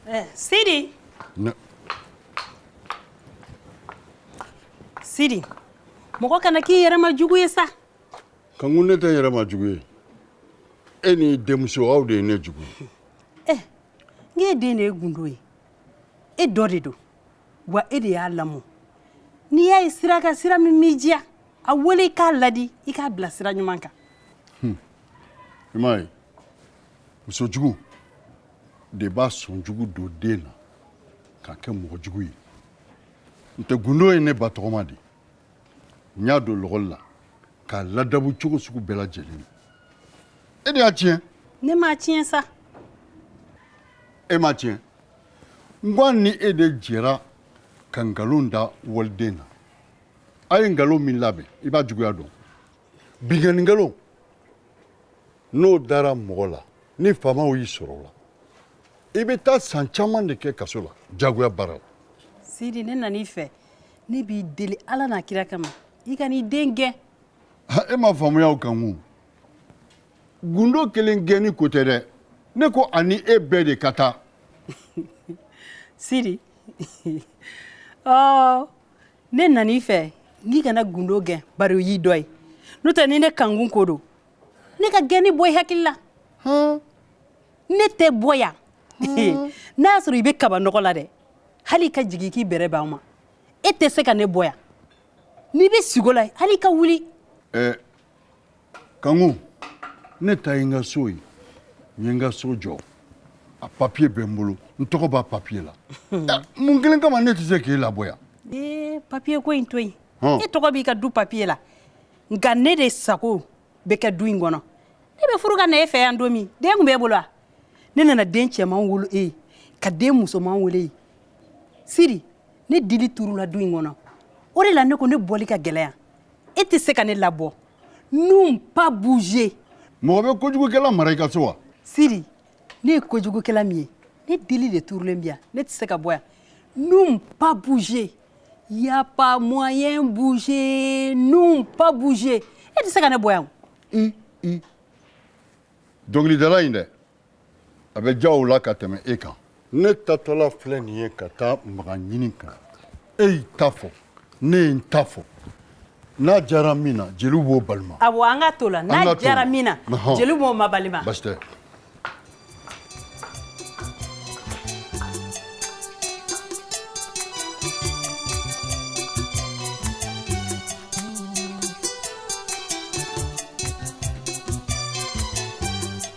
Eh, Sidi. Ne. Sidi, mɔgɔ kana k'i yɛrɛ ma jugu ye sa. Kanku ne tɛ yɛrɛ ma jugu ye. E ni denmuso aw de ye ne jugu ye. Eh, n k'e den de ye gundo ye. E dɔ de don. Wa e de y'a lamɔ. N'i y'a ye sira kan, sira min m'i diya, a wele i k'a ladi, i k'a bila sira ɲuman kan. Hum. I m'a ye. muso jugu de b'a sɔn jugu don den na k'a kɛ mɔgɔ jugu ye n'o tɛ gundo ye ne ba tɔgɔma de n y'a don lakɔli la k'a ladabu cogo sugu bɛɛ lajɛlen e de y'a tiɲɛ ne m'a tiɲɛ sa e m'a tiɲɛ n ko a ni e de jɛra ka nkalon da waliden na a ye nkalon min labɛn i b'a juguya dɔn binkanni nkalon n'o dara mɔgɔ la ni faamaw y'i sɔrɔ o la i bɛ taa san caman de kɛ kaso la jagoya baara la sidi ne nan'i fɛ ne b'i deli ala n'a kira kama i kan'i den gɛn Ha, e m'a faamuya kanku gundo kelen gɛnni ko tɛ dɛ ne ko a ni e bɛɛ de ka taa sidi ɔ ne nan'i fɛ n'i kana gundo gɛn bari o y'i dɔ ye n'o tɛ ni ne kanku ko don ne ka gɛnni bɔ i hakili la ne tɛ bɔ yan n'a y'a sɔrɔ i bɛ kabanɔgɔ la dɛ hali i ka jigin k'i bɛrɛ b'an ma e tɛ se ka ne bɔ yan n'i bɛ sigo la hali i ka wuli eh, kanku ne ta ye n ka so ye n ye n ka so jɔ a papiye bɛ n bolo n tɔgɔ b'a papiye la eh, mun kelen kama ne tɛ se k'e labɔ yan ee eh, papiye ko in to yen e tɔgɔ b'i ka du papiye la nka ne de sago bɛ kɛ du in kɔnɔ ne bɛ furu ka na e fɛ yan don min den tun b'e bolo wa ne nana den cɛman wolo e ye ka den musoman wolo e ye sidi ne dili turula du in kɔnɔ o de la ne ko ne bɔli ka gɛlɛn yan e tɛ se ka ne labɔ nous pas bouger mɔgɔ bɛ kojugukɛla mara i ka so wa sidi ne ye kojugukɛla min ye ne dili de turulen bi yan ne tɛ se ka bɔ yan nous pas bouger Y a pas moyen bouger nous pas bouger e tɛ se ka ne bɔ yan dɔnkilidala in dɛ a bɛ diya o la ka tɛmɛ e kan ne taatɔla filɛ nin ye ka taa mɔgɔ ɲini ka na e y'i ta fɔ ne ye n ta fɔ n'a diyara min na jeliw b'o balima awɔ an ka t'o la n'a diyara min na Ɔhɔn. jeliw b'o mabalima basi tɛ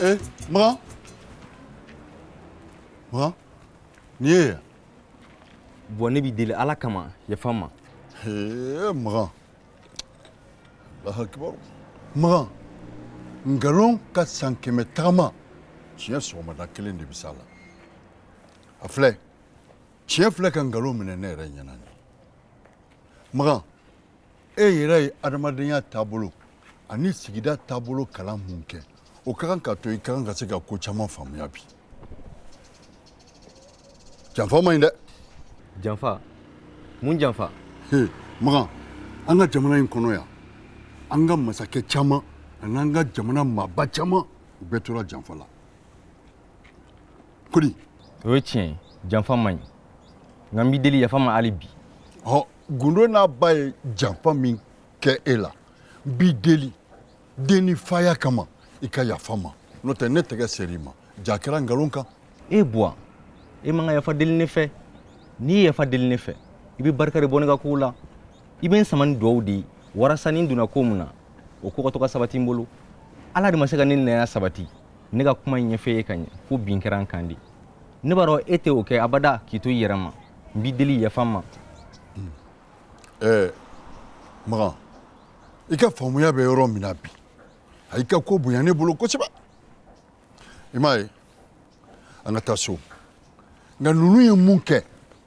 Ee, Makan. Makan. Niye ya? Bon ne b'i deli ala kama yafa n ma Ee, Makan. Allahu akibar. Makan. Nkalon ka san kɛmɛ tagama tiɲɛ sɔgɔmada kelen de bɛ s'a la. A filɛ. tiɲɛ filɛ ka nkalon minɛ ne yɛrɛ ɲɛna nin makan e yɛrɛ ye adamadenya taabolo ani sigida taabolo kalan mun kɛ o ka kan ka to i ka kan ka se ka ko caman faamuya bi janfa man ɲi dɛ janfa mun janfa he makan an ka jamana in kɔnɔ yan an ka masakɛ caman ani an ka jamana maaba caman u bɛɛ tora janfa la kodi o ye tiɲɛ ye janfa man ɲi nka n b'i deli yafa n ma hali bi hɔ gundo n'a ba ye janfa min kɛ e la n b'i deli den ni faya kama i ka yafa n ma n'o tɛ ne tɛgɛ ser'i ma jaa kɛra nkalon kan e buwa e man ka yafa deli ne fɛ n'i ye yafa deli ne fɛ i bɛ barika de bɔ ne ka kow la i bɛ n sama ni duwawu de ye walasa ni n donna ko min na o ko ka to ka sabati n bolo ala de ma se ka ne nɛya sabati ne ka kuma ɲɛf'e ye ka ɲɛ fo bin kɛra n kan de ne b'a dɔn e tɛ o kɛ abada k'i to i yɛrɛ ma n b'i deli yafa n ma hmm. eh, makan i ka faamuya bɛ yɔrɔ min na bi a y'i ka ko bonya ne bolo kosɛbɛ i m'a ye an ka taa so nka ninnu ye mun kɛ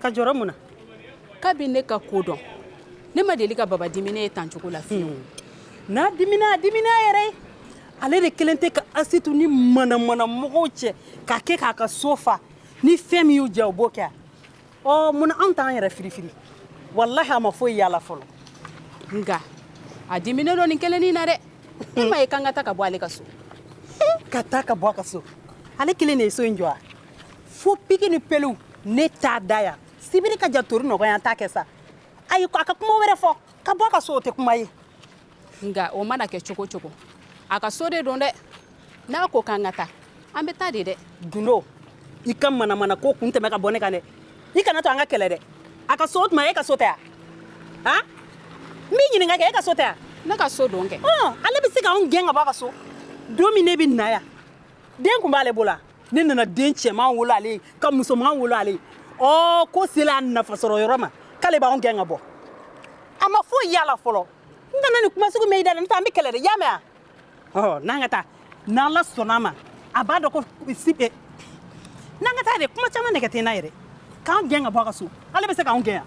ka jɔrɔ mun na kabi ne ka ko dɔn ne ma deli ka baba diminen ye tan cogo la fiyewu hmm. n'a dimina a dimin'a yɛrɛ ye ale de kɛlen tɛ ka asitu ni manamana mɔgɔw cɛ ka kɛ k'a ka so fa ni fɛn min y'u diya u b'o kɛ a ɔ mun na anw t'an yɛrɛ firifiri walahi a ma foyi y'a la fɔlɔ nka a diminen don nin kelennin na dɛ e m'a ye k'an ka taa ka bɔ ale ka so ka taa ka bɔ a ka so ale kelen de ye so in jɔ wa fo piki ni pelu ne t'a da yan sibiri ka ja tori nɔgɔya an t'a kɛ sa ayi a ka kuma wɛrɛ fɔ ka bɔ a ka so o tɛ kuma ye nka o mana kɛ cogo cogo a ka so de don dɛ n'a ko k'an ka taa an bɛ taa de dɛ gundo i ka manamana ko kun tɛmɛ ka bɔ ne kan dɛ i kana to an ka kɛlɛ dɛ a ka so o tuma e ka so tɛ yan han n b'i ɲininka kɛ e ka so tɛ yan ne ka so don kɛ ale bɛ se k'anw gɛn ka bɔ a ka so don min ne bɛ na yan den tun b'ale bolo wa ne nana den cɛman wolo ale ye ka musoman wolo ale ye ɔ ko sela a nafasɔrɔ yɔrɔ ma k'ale b'anw gɛn ka bɔ a ma foyi y'a la fɔlɔ n kana nin kuma sugu mɛn i da la n'o tɛ an bɛ kɛlɛ dɛ y'a mɛn wa ɔ n'an ka taa n'ala sɔnna a ma a b'a dɔn kosɛbɛ n'an ka taa dɛ kuma caman nɛgɛ tɛ n na yɛrɛ k'an gɛn ka bɔ a ka so ale bɛ se k'anw gɛn yan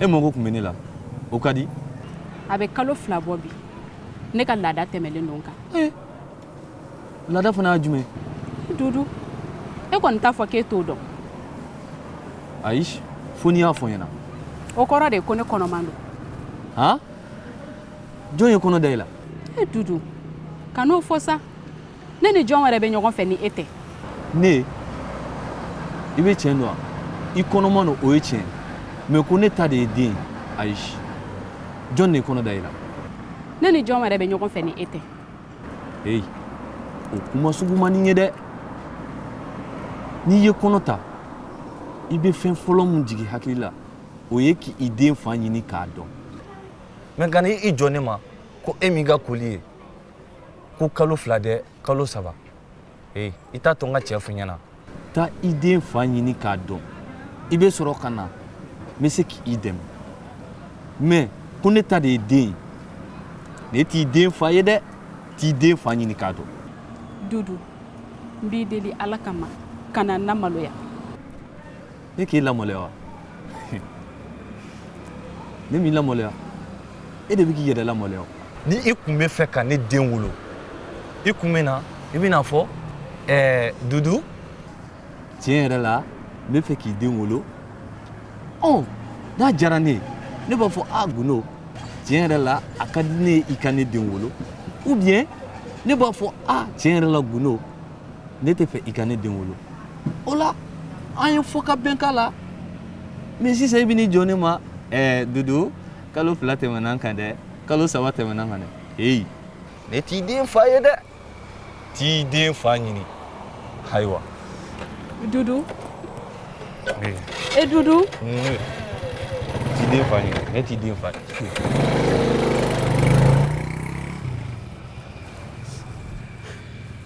e mago tun bɛ ne la o ka di a bɛ kalo fila bɔ bi ne ka laada tɛmɛlen don n kan eh, laada fana y'a jumɛn dudu e kɔni t'a fɔ k'e t'o dɔn ayi fo n'i y'a fɔ n ɲɛna o kɔrɔ de ko ne kɔnɔman don han jɔn ye kɔnɔ da i la e dudu kan'o fɔ sa ne ni jɔn wɛrɛ bɛ ɲɔgɔn fɛ ni e tɛ ne i bɛ tiɲɛ dɔn wa i kɔnɔman don o ye tiɲɛ mais ko ne ta de ye den ayi jɔn de ye kɔnɔ da i la ne ni jɔn wɛrɛ bɛ ɲɔgɔn fɛ ni e tɛ eyi o kuma sugu man di n ye dɛ n'i ye kɔnɔ ta i bɛ fɛn fɔlɔ min jigin i hakili la o ye k'i den fa ɲini k'a dɔn mais ka na i jɔ ne ma ko e m'i ka koli ye ko kalo fila dɛ kalo saba ee i t'a to n ka tiɲɛ fɔ i ɲɛna taa i den fa ɲini k'a dɔn i bɛ sɔrɔ ka na n bɛ se k'i dɛmɛ mais ko ne ta de ye den ye ne t'i den fa ye dɛ t'i den fa ɲini k'a dɔn dudu n b'i deli ala kama kana n lamaloya ne k'e lamaloya wa ne m'i lamaloya e de bɛ k'i yɛrɛ lamaloya ni i tun bɛ fɛ ka ne den wolo i tun bɛ na i bɛn'a fɔ ɛɛ dudu tiɲɛ yɛrɛ la n bɛ fɛ k'i den wolo ɔ n'a diyara ne ye ne b'a fɔ a gundo tiɲɛ yɛrɛ la a ka di ne ye i ka ne den wolo ou bien ne b'a fɔ a tiɲɛ yɛrɛ la gundo ne tɛ fɛ i ka ne den wolo o la an ye fɔ ka bɛn k'a la mais sisan i bɛ n'i jɔ ne ma ɛɛ dudu kalo fila tɛmɛna n kan dɛ kalo saba tɛmɛna n kan dɛ heyi ne t'i den fa ye dɛ t'i den fa ɲini ayiwa dudu e dudu t'i den fa ɲini ne t'i den fa ye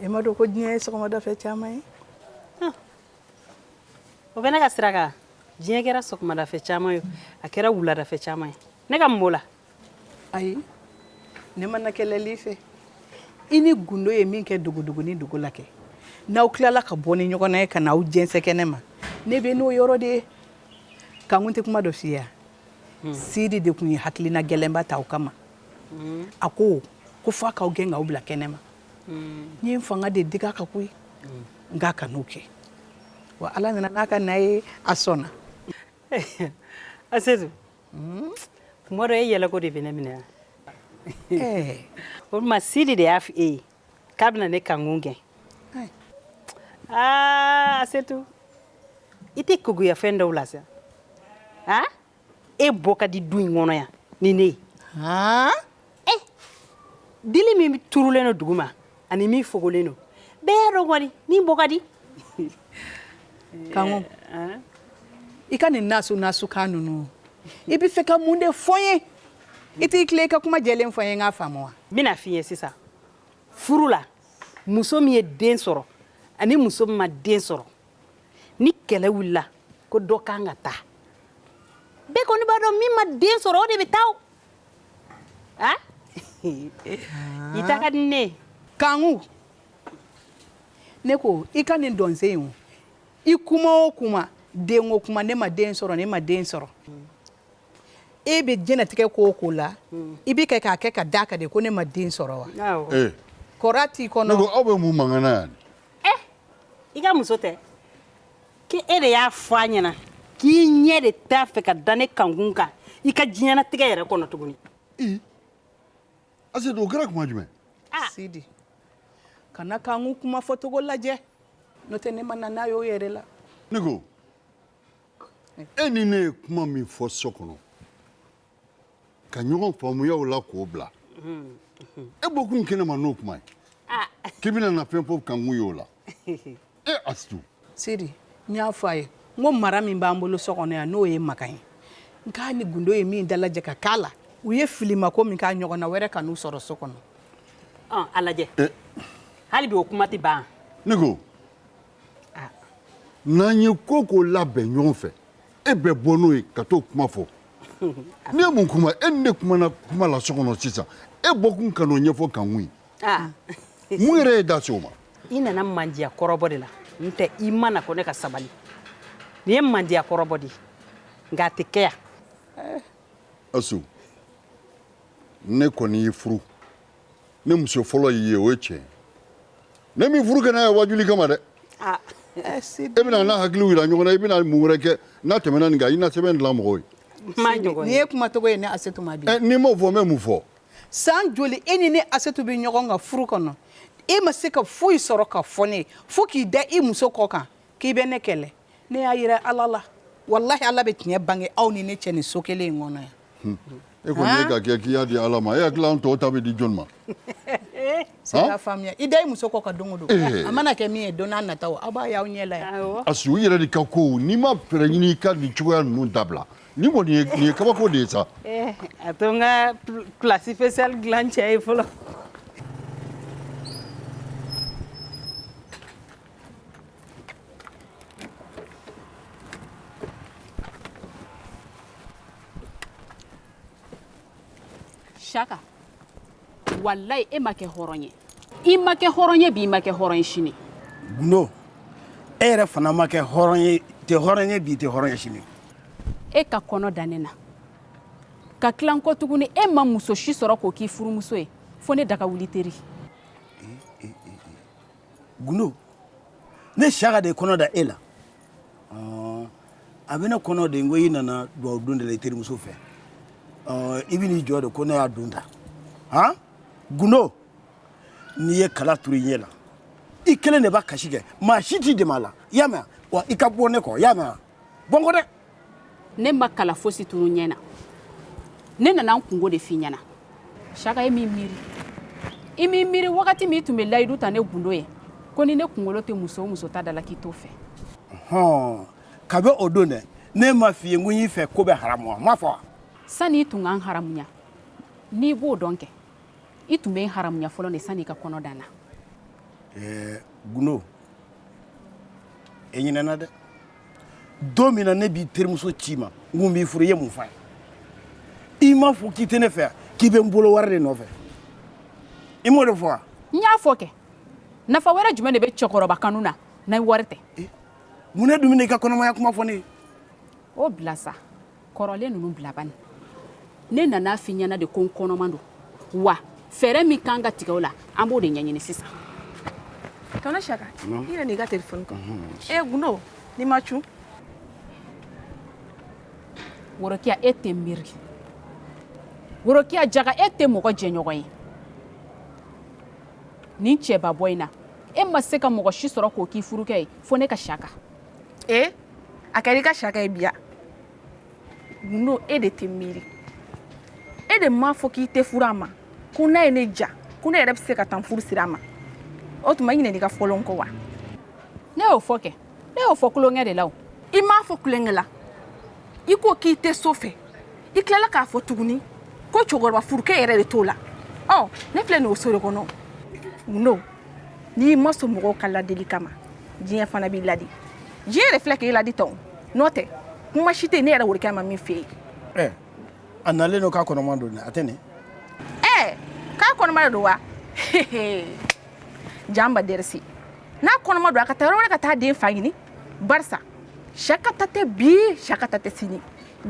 E m'a dɔn ko diɲɛ ye sɔgɔmada fɛ caman ye o bɛ ne ka sira kan diɲɛ kɛra sɔgɔmadafɛ caman ye a kɛra wuladafɛ caman ye ne ka mɔ la ayi ne ma na kɛlɛli fɛ i ni gundo ye min kɛ dogodogonin dogo la kɛ n'aw tilala ka bɔ ni ɲɔgɔn na ye ka n'a jɛnsɛ kɛnɛ ma ne bɛ n'o yɔrɔ de ye kanku n tɛ kuma dɔ f'i ye hmm. sidi de tun ye hakilina gɛlɛnba ta o kama hmm. a ko ko f'a k'aw gɛn k'aw bila kɛnɛ ma hmm. n ye n fanga de dig'a kan koyi n k'a kan'o kɛ wa ala nana n'a ka na ye a sɔnna asetu Tuma dɔ e yɛlɛko de bɛ ne minɛ o tuma sidi de y'a fɔ e ye k'a bɛna ne kankun gɛn asetu i tɛ keguya fɛn dɔw la sa e bɔ ka di du in kɔnɔ yan ni ne ye eh dili min turulen don duguma ani min fogolen don bɛɛ y'a dɔn kɔni min bɔ ka di kanku eh, i ka nin nasu nasu kan ninnu i bɛ fɛ ka mun de fɔ n ye i t'i tilen i ka kuma jɛlen fɔ n ye n k'a faamu wa n bɛn'a f'i ye sisan furu la muso min ye den sɔrɔ ani muso min ma den sɔrɔ ni kɛlɛ wulila ko dɔ kan ka taa bɛɛ kɔni b'a dɔn min ma den sɔrɔ o de bɛ taa o Ah? I taa ka di ne ye. Kanku ne ko i ka nin dɔnsen in o i kuma o kuma den o kuma ne ma den sɔrɔ ne ma den sɔrɔ e bɛ diɲɛnatigɛ ko o ko la i bɛ kan k'a kɛ ka d'a kan de ko ne ma den sɔrɔ wa ee kɔrɔ t'i kɔnɔ ne ko aw bɛ mun mankan na yan i ka muso tɛ K' e de y'a fɔ a ɲɛna k'i ɲɛ de t'a fɛ ka da ne kankun kan i ka diɲɛnatigɛ yɛrɛ kɔnɔ tuguni asetu o kɛra kuma jumɛn sidi kana kanku kuma fɔcogo lajɛ n'o tɛ ne ma na n'a y'o yɛrɛ la ne ko e ni ne ye kuma min fɔ so kɔnɔ ka ɲɔgɔn faamuya o la k'o bila e bɔkun kɛnɛ ma n'o kuma ye k'i bɛna na fɛn fɔ kankun y'o la e asetu sidi n y'a fɔ a ye n ko mara min b'an bolo so kɔnɔ yan n'o ye makan ye n k'a ni gundo ye min dalajɛ ka k'a la u ye filimako min k'a ɲɔgɔnna wɛrɛ kan'u sɔrɔ so kɔnɔ a lajɛ hali bi o kuma tɛ ban ne ko n'an ye ko ko labɛn ɲɔgɔn fɛ e bɛ bɔ n'o ye ka t'o kuma fɔ ne ye mun kuma e ni ne kumana kuma la so kɔnɔ sisan e bɔkun ka n'o ɲɛfɔ kankun ye ah. mun yɛrɛ y'i da se o ma i nana mandiya kɔrɔbɔ de la n tɛ i ma na ko ne ka sabali nin ye mandiya kɔrɔbɔ de ye nka a tɛ kɛ yan asu ne kɔni y'i furu ne muso fɔlɔ y'i ye o ye tiɲɛ ye ne m'i furu ka na yan wajuli kama dɛ ah. eh, e bɛna n'a hakiliw yira ɲɔgɔn na i bɛna mun wɛrɛ kɛ n'a tɛmɛna nin kan i na sɛbɛn dilan mɔgɔw ye nin ye kumacogo ye ne asetu ma bi eh, n'i m'o fɔ n bɛ mun fɔ san joli e ni ne asetu bɛ ɲɔgɔn kan furu kɔnɔ e ma se ka foyi sɔrɔ ka fɔ ne ye fo k'i da i muso kɔ kan k'i bɛ ne kɛlɛ ne y'a yira ala la walayi ala bɛ tiɲɛ bange aw ni ne cɛ nin so kelen in kɔnɔ yan e kɔni ye k'a kɛ k'i y'a di ala ma e hakili an tɔw ta bɛ di jɔn ma sera faamuya i da i muso kɔ kan don o don a mana kɛ min ye don nata aw b'a y'aw ɲɛ la yan asu i yɛrɛ de ka ko n'i ma fɛɛrɛ ɲini i ka nin cogoya ninnu dabila nin kɔni nin ye kabako de ye sa a to n ka plat spécial dilan cɛ ye fɔlɔ saka walayi e ma kɛ hɔrɔn ye i ma kɛ hɔrɔn ye bi i ma kɛ hɔrɔn ye sini gundo e yɛrɛ fana ma kɛ hɔrɔn ye i tɛ hɔrɔn ye bi i tɛ hɔrɔn ye sini e ka kɔnɔ da ne na ka tilan kɔ tuguni e ma muso si sɔrɔ k'o k'i furumuso ye fo ne daga wuli teri gundo ne saka de ye kɔnɔ da e la a bɛ ne kɔnɔ de ko i nana dugawu don de la i terimuso fɛ i bɛ n'i jɔ de ko ne y'a don ta han gundo n'i ye kala turu i ɲɛ la i kelen de b'a kasi kɛ maa si t'i dɛmɛ a la i y'a mɛn wa i ka bɔ ne kɔ i y'a mɛn wa bɔ n kɔ dɛ ne ma kala fosi turu n ɲɛ na ne nana n kungo de f'i ɲɛna saka i m'i miiri i m'i miiri wagati min i tun bɛ layidu ta ne gundo ye ko ni ne kunkolo tɛ muso o muso ta da la k'i t'o fɛ hɔn kabi o don dɛ ne m'a f'i ye n ko n y'i fɛ ko bɛɛ haramuya n m'a fɔ wa sani i tun ka n haramuya n'i b'o dɔn kɛ i tun bɛ n haramuya fɔlɔ de sani i ka kɔnɔ da n na ɛɛ gundo e ɲinɛna dɛ don min na ne b'i terimuso ci i ma n ko n b'i furu i ye mun fɔ a ye i m'a fɔ k'i tɛ ne fɛ yan k'i bɛ n bolo wari de nɔfɛ i m'o de fɔ wa n y'a fɔ kɛ nafa wɛrɛ jumɛn de bɛ cɛkɔrɔba kanu na n'a wari tɛ mun ne dun bɛna i ka kɔnɔmaya kuma fɔ ne ye o bila sa kɔrɔlen ninnu bila bani ne nana f'i ɲɛna de ko n kɔnɔman don wa fɛɛrɛ min kan ka tigɛ o la an b'o de ɲɛɲini sisan tɔnɔ saka i yɛrɛ n'i ka telefɔni kan e gundo n'i ma cun worokiya e tɛ miiri worokiya jaga e tɛ mɔgɔ jɛɲɔgɔn ye nin cɛba bɔ in na e ma se ka mɔgɔ si sɔrɔ k'o k'i furukɛ ye fo ne ka saka e a kɛra i ka saka ye biya gundo e de tɛ miiri e de m'a fɔ k'i tɛ furu a ma ko n'a ye ne diya ko ne yɛrɛ bɛ se ka taa n furu siri a ma o tuma i ɲinɛn'i ka fɔlen kɔ wa ne y'o fɔ kɛ ne y'o fɔ tulonkɛ de la o i m'a fɔ tulonkɛ la i ko k'i tɛ so fɛ i tilala k'a fɔ tuguni ko cɛkɔrɔba furukɛ yɛrɛ de t'o la ɔ ne filɛ nin o so de kɔnɔ gundo n'i ma sɔn mɔgɔw ka ladili kama diɲɛ fana b'i ladi diɲɛ yɛrɛ filɛ k'e ladi tan n'o tɛ kuma si tɛ ne yɛrɛ worokiya ma min f'e ye eh, a nalen don k'a kɔnɔma don a tɛ nin ɛɛ eh, k'a kɔnɔma de don wa janba dɛrɛsi n'a kɔnɔma don a ka taa yɔrɔ wɛrɛ ka taa den fa ɲini barisa saka ta tɛ bi saka ta tɛ sini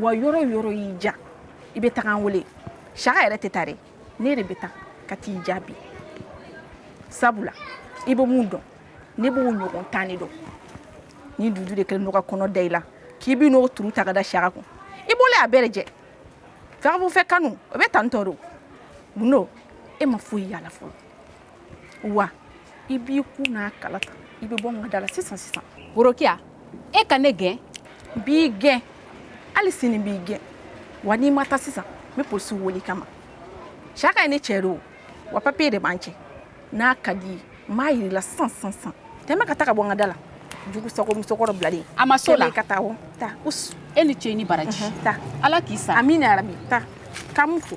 wa yɔrɔ o yɔrɔ y'i diya i bɛ taga an wele saka yɛrɛ tɛ taa dɛ ne de bɛ taa ka t'i jaabi sabula i bɛ mun dɔn ne b'o ɲɔgɔn tan de dɔn ni dudu de kɛlen don ka kɔnɔ da i la k'i bɛ n'o turu ta ka da saka kun i bolo a bɛɛ jɛ fɛbu fɛ kanu o bɛ tan tɔ don gundo e ma foyi y'a la fɔlɔ wa i b'i kun n'a kala ta i bɛ bɔ n ka da la sisan sisan worokiya e ka ne gɛn n b'i gɛn hali sini n b'i gɛn wa n'i ma taa sisan n bɛ polisiw wele i kama saka ye ne cɛ de o wa papiye de b'an cɛ n'a ka d'i ye n b'a yir'i la sisan sisan sisan tɛmɛ ka taa ka bɔ n ka da la jugu sago musokɔrɔ bilalen a ma so la ka taa o taa us e ni ce ni baraji taa ala k'i sa amina yarabi taa k'an mu fo